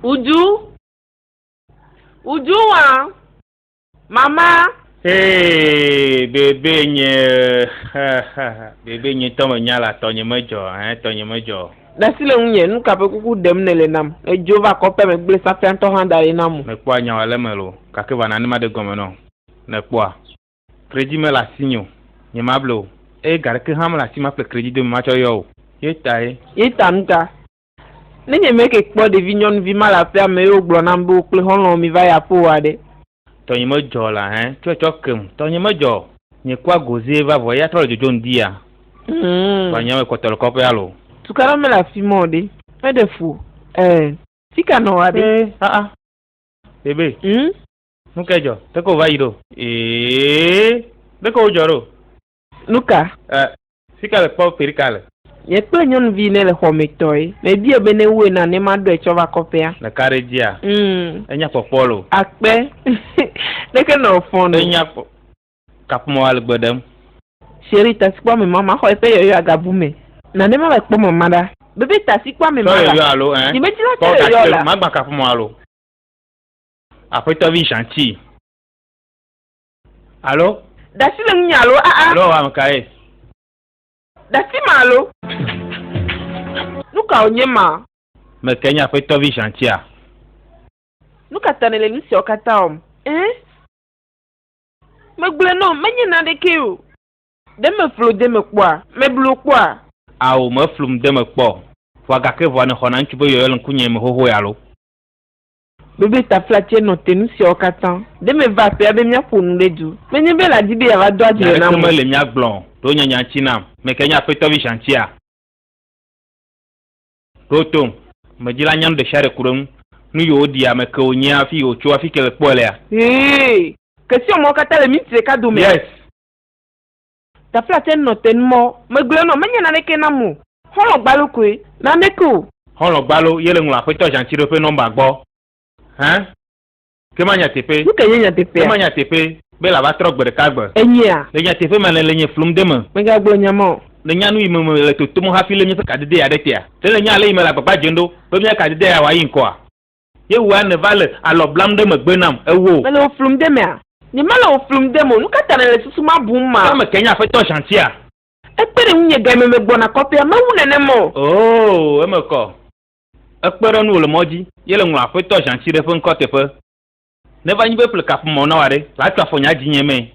Uju. Uju wa. Mama. Hey, bébé nye. bébé nye tɔ me nya la tɔ nye me jɔ, hein, tɔ nye me jɔ. Dasi le ŋunye, nu kaƒe kuku ɖem ne le nam. Edzo va kɔƒea me gblẽ safia ŋtɔ hã da ɖi nam o. Me kpɔa nyawa le me lo, gake va na ne ma ɖe gɔme nɔ. Ne kpɔa. Kredit me le asinye o, nye ma ble o, eye ga ɖeke hã me le asi ma kple kredit dome ma tsɔ yɔ o. Ye tae. Ye ta nuka? Ne nye me ke kpɔ ɖevi nyɔnuvi ma le aƒea me eye wogblɔ nam be wo kple xɔlɔ̃wo mi va yi aƒeoa ɖe? Tɔnye me dzɔ la hẽ, tsɔe tsɔ kem. Tɔnye me dzɔ. Nye kua gozie va vɔ eya trɔ le dzodzom dia. Ŋ. Vanya me kpɔtɔ le kɔƒea lo. Tukaɖa mele afima o ɖe? Meɖe fu o. Ɛ. Fika nɔa ɖe? Ɛ. Aa. Bebe. Ŋ. Nukae dzɔ? Ɖeke wova yi ɖo? Ɛ. Ɖeke wodzɔ ɖo? Nu ka? E, sika le kpɔ perika le. Nye kple nyɔnuvi ne le xɔ me tɔe. Mebia be ne woe na ne ma ɖɔe tsɔ va kɔƒea. Le ka ɖe dzia? Mm. Enya kpɔkpɔ lo. Akpe. Ɖeke nɔ fɔn no. Enya kpɔ. Kaƒomɔ ale gbe ɖem. Sheri tasikpɔ me mama xɔ eƒe yɔyɔ agabu me. Na ne ma va kpɔ mama ɖa. Bebe tasikpɔ me ma la. Tɔ yɔyɔ alo eh. Nye medzi la tɔ yɔyɔ la. Ma gba kaƒomɔ alo. Aƒetɔvi Jean ci. Alo. Ɖasi le ŋunye alo aa. Ah, ah. Alo wam kae. Ɖasi ma alo. Nuka wònye ma. Meke nye aƒetɔ vi Jean-Tia. Nuka ta nèle nu siawo katã wɔm? Ɛɛ. Megblɔe nɔ menye naneke o. Ɖe meflo de me kpɔa? Meblo kpɔa? Ao, meflum de me kpɔ. Vɔa gake vɔa nèxɔna ŋutsu be yɔyɔ le ŋkunye me xoxoe alo? Biblia-taflatse nɔ te nu siawo katã. Ɖe meva aƒea be míaƒo nu ɖe du. Menye be ela di be yeava do adze nam o. Nya aɖeke mele mía gblɔ o. Ɖo nye nya ŋuti nam. Ame kae nye Aƒetɔ Vision ŋutia? Ɖo tom. Ame dzila nya nu ɖesiaɖe ku ɖe eŋu. Nu yi wòɖi, ame ke wònye, afi yi wòtso, afi ke le kpɔe lea. Hee. Ke siwo amewo katã le minti ɖeka dome. Yes. Taflatse nɔ te nu mɔ, Megblɔe nɔ, menye naneke nam o. Xɔlɔ̃ gbalo koe, naneke o. Xɔlɔ̃ gbalo ye le ŋlɔ Axwetɔ Ʒantiɖo ƒe nɔmba gbɔ. Hẽ? Ke ma nyateƒe. Nuke nye nyateƒea? Ke ma nyateƒe be la va trɔ gbe ɖeka gbe. Enyea? Le nyateƒe ma le le nye flum de me. Megagblɔ nya ma o. Le nya nu yi me me le totom hafi le míaƒe kadedea ɖe tea? Ɖe le nya ale yi me le agbagba dzem ɖo be míaƒe kadedea ya wòayi ŋkɔa? Ye wòa nèva le alɔ blam ɖe megbe nam, ewò. Mele wò flum de mea? Nyemele wò flum dem o, nukata nèle susu ma bum ma? Ke meke nye Afetɔ Zhantia? Ekpe ɖe ŋunye game megbɔna kɔƒea, mewu nenem o. Oo, eme kɔ. Ekpe ɖe nuwò le mɔ dzi, ye le ŋlɔ Afetɔ Zhantiɖe ƒe ŋkɔ teƒe. Neva nyi be ƒle kaƒomɔ na wò aɖe, la tso afɔ nye adinye mee.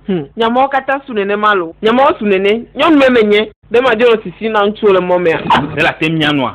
Hum, nye mɔwo katã su nenem alo? Nye mɔwo su nene, nyɔnume menye, be madzo nɔ sisim na ŋutsuwo le mɔ mea? Ɖe late ŋu mianɔa?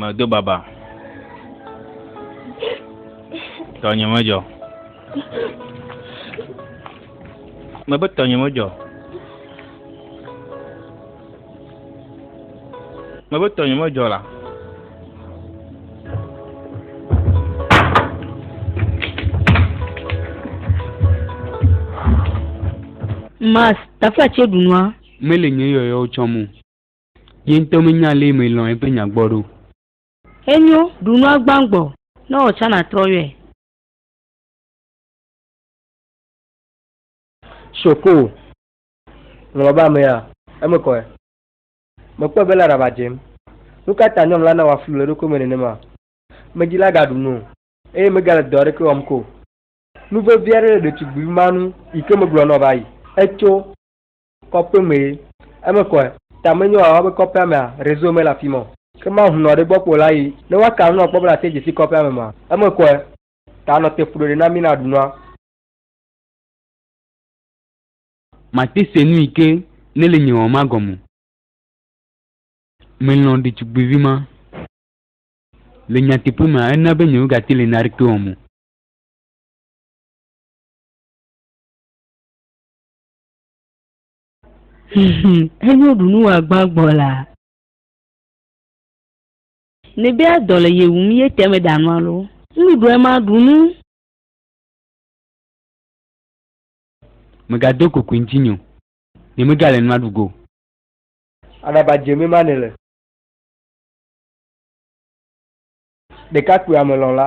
medo baba tɔnye medzɔ mebe tɔnye medzɔ mebe tɔnye medzɔ la Mas, t'as fait chez Benoît Mele nye yɔyɔwo tsɔm o. Ye ŋutɔ menya ale melɔ̃ eƒe nya gbɔ ɖo. Enyo, ɖu nua gbãgbɔ, ne wò tsã nàtrɔ yɔe. Shoko, le baba mea, eme kɔe. Mekpɔe be lã ɖaba dzem. Nu ka ta nyɔnula nawɔa flu le eɖokui me nenema? Medzi lã gaɖu nu o, eye megale dɔ aɖeke wɔm ko o. Nu vevi aɖe le ɖetugbui ma nu yi ke megblɔ nɔ va yi. Etso. Kɔƒe mee. Eme kɔe. Ta menyo wòava be kɔƒea mea, réseau mele afi ma o. Ke mahunɔ ɖe gbɔ kpɔ la yi. Ne woaka nu akpɔ be nàte dzi si kɔƒea me ma? Eme kɔe. Ta nɔ te ƒu ɖoɖe na mí ne aɖu nua. Mate se nu yi ke nèle nye wɔm ma gɔme o. Melɔ̃ ɖetugbuivi ma. Le nyateƒe mea, ena be nyemegate le naneke wɔm o. Enyo ɖunu wòagbã gbɔ la. Nebe adɔ le ye wum ye te me danu alo. Nuɖuɖu ema ɖunu. Megado kokui ŋtinye o. Ne mega le nua ɖugo. Aɖaba dze me ma ne le. Ɖekakpui ame lɔla.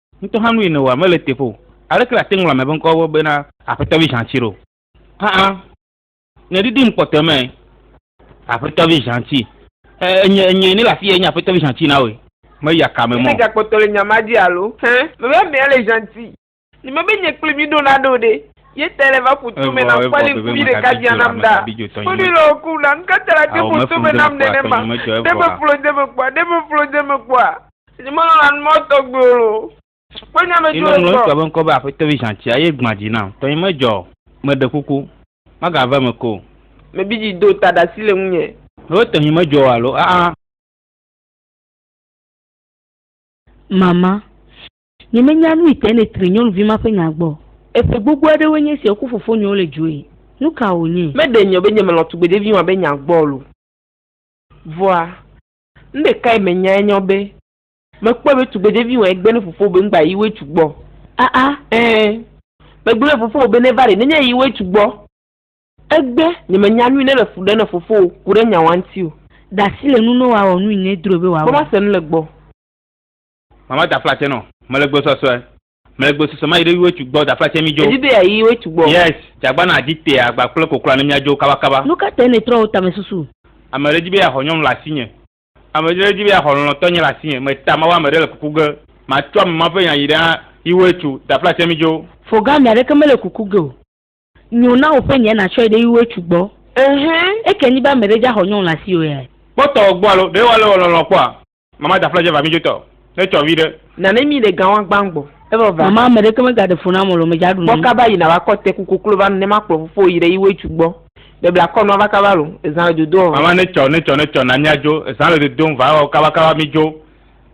Ŋutɔ hã nu yi nèwɔa mele teƒe o. Aleke nàte ŋu ŋlɔ ame ƒe ŋkɔwo bena Aƒetɔ vi Zhanti ɖo? Aa, nye ɖiɖim kpɔtɔe mee. Aƒetɔ vi Zhanti. E, enye, enyee nye le afii enye Aƒetɔ vi Zhanti na wòe. Meyi aka me mɔ. Míede ga kpɔtɔ le nya ma dzi alo? Hẽ, mebe amea le Zhanti. Ne mebe nye kple mi ɖo naɖe o ɖe, ye tae le va ƒoto me nam kpɔ ne ŋku vi ɖeka bia nam ɖa. Kpɔɖi le wò kum la, nu ka ta nàte ƒoto me nam nenema? Ɖe meflo de me kpɔa? Ɖe meflo de me kpɔa? Simɔn la mɔ tɔgbuiwo lo. Kpe nya me dzro egbɔ. Ŋlɔ ŋutsu be ŋkɔ be aƒetɔ vi zãtsia ye gbã dzi nam. Tɔnye medzɔ o. Meɖe kuku, magava eme ko o. Mebi dzi do ta ɖasi le ŋunye. Ɖo tɔnye medzɔ o alo aa. Mama, nye menya nui tae ne tri nyɔnuvi ma ƒe nya gbɔ. Eƒe gbogbo aɖewoe nye sia wokɔ fofonyewo le dzoe. Nu ka wònye? Meɖe nyɔ be nye melɔ̃ tugbedevi ma be nya gbɔ o lo. Vɔa, Nuɖe kae menyae nye ɔ be mekpɔe be tugbedevi wɔe gbe ne fofowò be ŋgba yi wetsu gbɔ o. Aa ẽ, megblɔ ne fofowò be neva ɖe nenye yi wetsu gbɔ. Egbe, nye menya nui ne le fu ɖe ne fofowò ku ɖe nyawa ŋti o. Dasi le nu nɔ wɔ awɔ nui ne edrɔe be wɔ awɔ. Kpɔ ma se nu le gbɔ. Mama da fla tse nɔ mele gbesɔsɔe. Mɛgbe sese ma yi ɖe wetsu gbɔ da flatsɛ mi jo. Edi be ya yi wetsu gbɔ. Yes, jagba na adi te agba kple kokloa ne mia jo kaba kaba. Nu ka tae nètrɔ wò tame susu? Ame ɖe di be ya xɔ nyɔnu le asinye. Ame ɖe di be ya xɔ lɔlɔtɔ nye le asinye. Me ta ma wa ame ɖe le kuku ge. Ma tsɔ ame ma ƒe nya yi ɖe yi wetsu da flatsɛ mi jo. Fo ga ame aɖeke mele kuku ge o. Nyo na wò ƒe nyɛ na tsɔe ɖe yi woe tsu gbɔ. Ehɛ. Eke nyi be ame ɖe dza xɔ nyɔnu le asi o yae. Kpɔtɔ gbɔ alo ɖe wa le wɔ lɔlɔ kpɔa. Mama da fla dze va mi dzo tɔ ne tsɔ vi ɖe. Nane mi ɖe gawa gban gbɔ evɔ va. Mama ame ɖeke me ga ɖe fo na molo me dza ɖu nu. Kpɔ kaba yi na va kɔ te ku koklo va nu ne ma kplɔ fofo yi ɖe yi woe tsu gbɔ. Be bla kɔ nua va kaba lo ezã le dodo ɔ. Mama ne tsɔ ne tsɔ ne tsɔ na mia dzo ezã le dodo ŋ va ɔ kaba kaba mi dzo.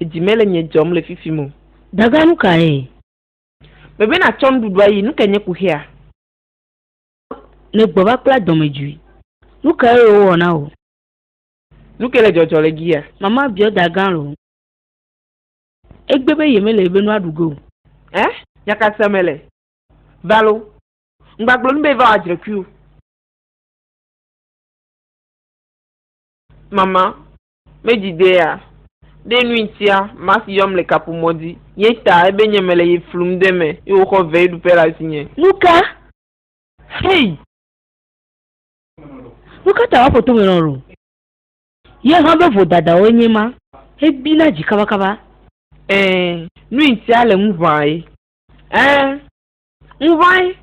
Edzi mele nye dzɔm le fifim o. Daga nu kae? Mebe natsɔ nuɖuɖu ayi, nu kae nye kuxia? Nègbɔ va kpla dɔmedzoe. Nu kae wowɔ na wò? Nu kae le dzɔdzɔ le giya? Mama biɔ daga loo. Egbe be yemele ebe nua ɖu ge o. Ẽ? Nya ka sem mele? Va loo. Ŋgbagblɔ nu be va wɔ adzrekui o. Mama. Medzidea? Ɖe nu ŋtia Max yɔm le kaƒomɔ dzi ye ta ebe nye mele ye flum de eme ye wòxɔ veeɖuƒe le asinye? Nuka? Hey! Nukata woaƒo tome nɔ ɖo? Ye hã be vodadawoe nye ma? Ebina dzi kabakaba. Ɛɛ, nu ŋtia le ŋu ʋã ye? Ɛɛ, ŋu ʋãe.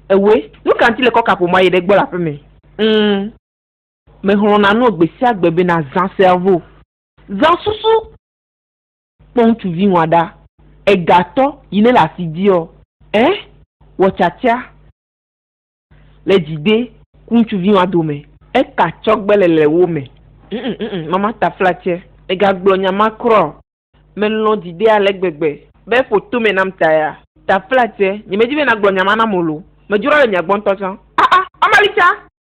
Ewe, nuka ŋti le kɔ kaƒomɔa ye ɖe gbɔ le aƒeme? Ŋ. Mexlɔ̃na nɔ gbe sia gbe be nazã sea vo. Zã susu kpɔ ŋutsuvi ŋua ɖa. Ega tɔ yi ne le asi diɔ? Ẽ, wɔ tiatia le dzigbe ku ŋutsuvi ŋua dome. Eka tsɔ gbe le le wo me. Ŋ-ŋ, ŋ-ŋ, mama ta fla tsɛ. Mega gblɔ nya ma kura o. Me lɔ̃ dzigbe ale gbegbe be ƒo to me nam ta ya. Ta fla tsɛ, nye me di be na gblɔ nya ma nam o lo. Me dzro le mia gbɔ ŋutɔ tsã. A-a, mama li tsã.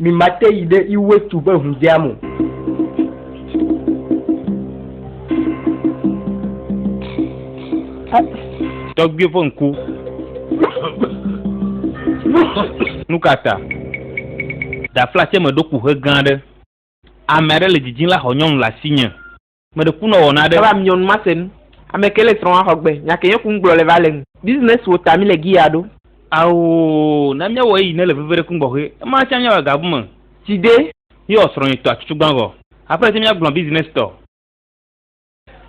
Mi mate yi ɖe iwe tu ƒe ŋudea mo. Tɔgbui ƒe ŋku. Nukata? Ɖafla tse me ɖo kuxe gã ɖe. Ame aɖe le dzidzim la xɔ nyɔnu le asinye. Meɖe kunɔ wɔna aɖe. Eva miɔnu mase nu. Ameke le srɔa xɔ gbe. Nya ke yɔku ŋgblɔ le va le ŋ. Business wo ta mi le giya ɖo. Ao na miawɔ eyi ne le veve ɖe kungbɔxue. Ema tsa miawɔ ega bu me. Tsi de. Miwɔ srɔ nyi tɔ acucu gban vɔ. Apre tse mia gblɔ business tɔ.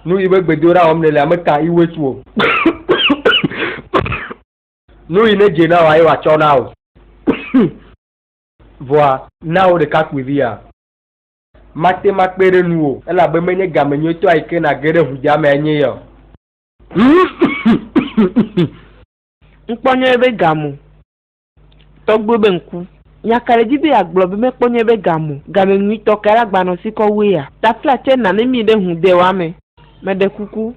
Nu yi be gbedoɖa wɔm ne le ame ka yi wets wo. Nu yi ne dze na wa ye wa tsɔ na wo. Vɔa na wo ɖekakpuivi ya. Mate ŋu akpe ɖe nuwò. Elabe menye game nyuitɔ ayi ke nàge ɖe ʋudzaa mea nye ya o. Ŋkpɔ nyɔ eƒe ga mo. Tɔgbuiwo be ŋku. Nya ka le edzi be yeagblɔ be mekpɔ nyɔ eƒe ga mo? Game nyuitɔ kae la gbanɔ sikɔ wu eya? Tafla tsɛ nane mí ɖe ŋu de wa me. Meɖe kuku.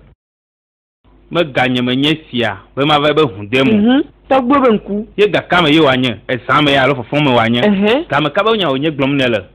Me ga nye me nye sia ƒe mava ebe ŋu de mo. Ŋu. Tɔgbuiwo be ŋku. Ye ga ka me ye wòanye? Ezã me ya alo fɔfɔ me wòanye? Ehɛ. Game ka be nya wònye gblɔm nèle?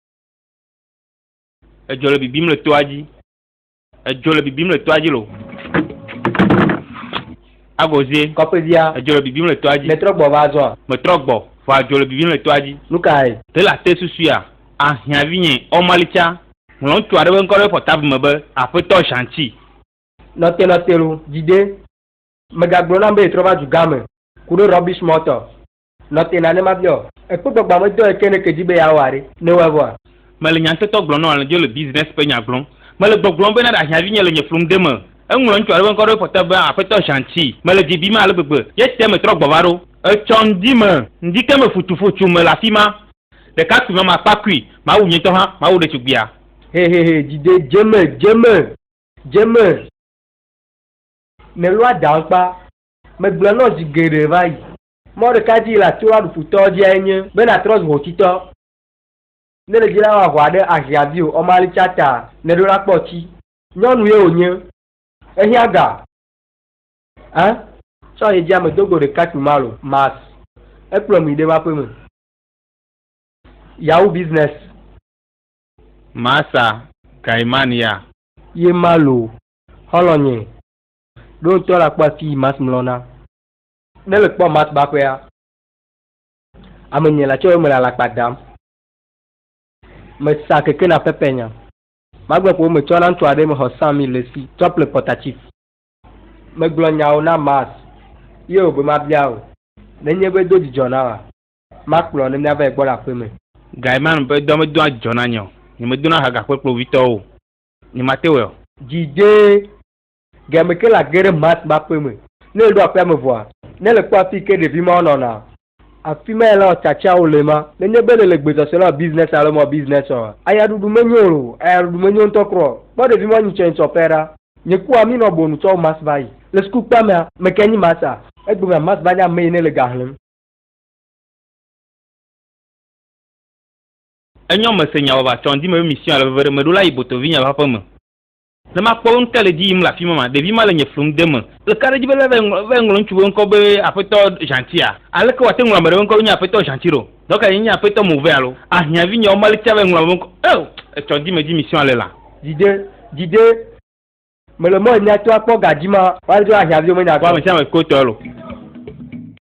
Edzɔ le bibim le toa dzi. Edzɔ le bibim le toa dzi lo. Agozie. Kɔƒevia. Edzɔ le bibim le toa dzi. Metrɔ gbɔ va azɔa. Metrɔ gbɔ vɔ adzɔ le bibim le toa dzi. Nu kae? Te le ate susuea? Ahiã vinye Ɔmalitsa. Ŋlɔ ŋutsu aɖe ƒe ŋkɔ ɖe pɔtable me be Aƒetɔ Zhangqi. Nɔtenɔtelo, dzi ɖe. Megagblɔ nam be yetrɔ va dugã me ku ɖe rubbish mɔtɔ. Nɔ te na ne mabia wò. Èkpɔ gbagbã me dɔ eke nèke dzi be yeawɔ aɖe? Ne ewɔe vɔa? Mele nyaŋtetɔ gblɔm nɔ alẽdzo le business ƒe nya gblɔm. Mele gbɔgblɔm be na ɖahiã vinye le nye fluŋde me. Eŋlɔ ŋutsu aɖe ƒe ŋkɔ ɖe eƒe ƒɔta be Aƒetɔ Zhangqi. Mele dzi bim ale gbegbe. Ye te metrɔ gbɔ va ɖo. Etsɔ ŋdi me. Ŋdi ke me futufu tso mele afima. Ɖekakpui ma makpa kui. Mawu nye ŋutɔ hã mawu ɖetugbuia. Hehehe dzi de dze me dze me dze me. Nèlɔa ɖaŋkpa. Megblɔe nɔ zi geɖe va yi. Mɔ ɖeka dzi la tso aɖukputɔ dziae nye be natrɔ zu hotitɔ. Ne le dzi la wa hua ɖe ahi avi o ɔma li tsa ta ne ɖo la kpɔ tsi. Nyɔnu ye wo nye. Ehia ga. A tsɔ ye dzi ame dogo ɖeka tu malo mas ekplɔ mi ɖe ma ƒe me. Yahoo business. Masa Gaiman ya. Ye malo. Xɔlɔ nye. Ɖo ŋutɔ la kpɔ afi yi mas mlɔ na. Ne le kpɔ Matt baƒea, ame nyui la tse me le alakpa dam. Me sa keke na Pepe nya. Magbe ƒo me tsɔ na ŋutsu aɖe me xɔ Sam mi le si tsɔ ple kpɔta chief. Me gblɔ nyawo na Matt ye o be ma bia o ne nye be do dzidzɔ na wa ma kplɔ ne mia va yi gbɔ le aƒe me. Gaiman ƒe dɔ me doa dzidzɔ na nye o. Nye me dona ha gakpe kple wovitɔwo o. Nye ma te wɔe o. Dzi dee Game ke la ge ɖe Matt ƒe aƒe me. Ne eɖo aƒea me vɔa, ne le kpɔ afii ke ɖevi mawo nɔna, afi mae lã tsatsawo le ma. Nenye be nèle gbe sɔsɔe na biznɛs alo mɔ biznɛs ɔa, aya ɖuɖu menyo o. Aya ɖuɖu menyo ŋutɔ kura o. Kpɔ ɖevi mawo nyitsɔnyitsɔ ƒe ɖa. Nye kpɔa mí nɔ bonu tsɔ Matt va yi. Le sukuukpea mea, ame kae nyi Matt a? Egbemea, Matt va nye ame yi ne le ga xlẽm. Enyɔ mese nya vava tsɔ ŋdi me be mision ale veve ɖe meɖo la yi botovinye ƒe aƒe me. Ne makpɔ wo ŋke le dzi yim le afi ma ma, ɖevi ma le nye flum de me. Le ka ɖe dzi be le va yi ŋlɔ ŋutsu be ŋkɔ be Aƒetɔ Ʒantia? Aleke wòate ŋu ame ɖe ƒe ŋkɔ nye Aƒetɔ Ʒanti ɖo? Dɔ kae nye Aƒetɔ Move alo? Ahiã vinyewo mali tsã va yi ŋlɔ ame ŋkɔ. Eo! Etsɔ dime dzi mission ale la. Dide, dide, mele mɔ nya to akpɔ ga dzi ma. Wale dzi be ahiã viwo menya kpɔ. Kpɔ ame sia ame ko tɔe lo.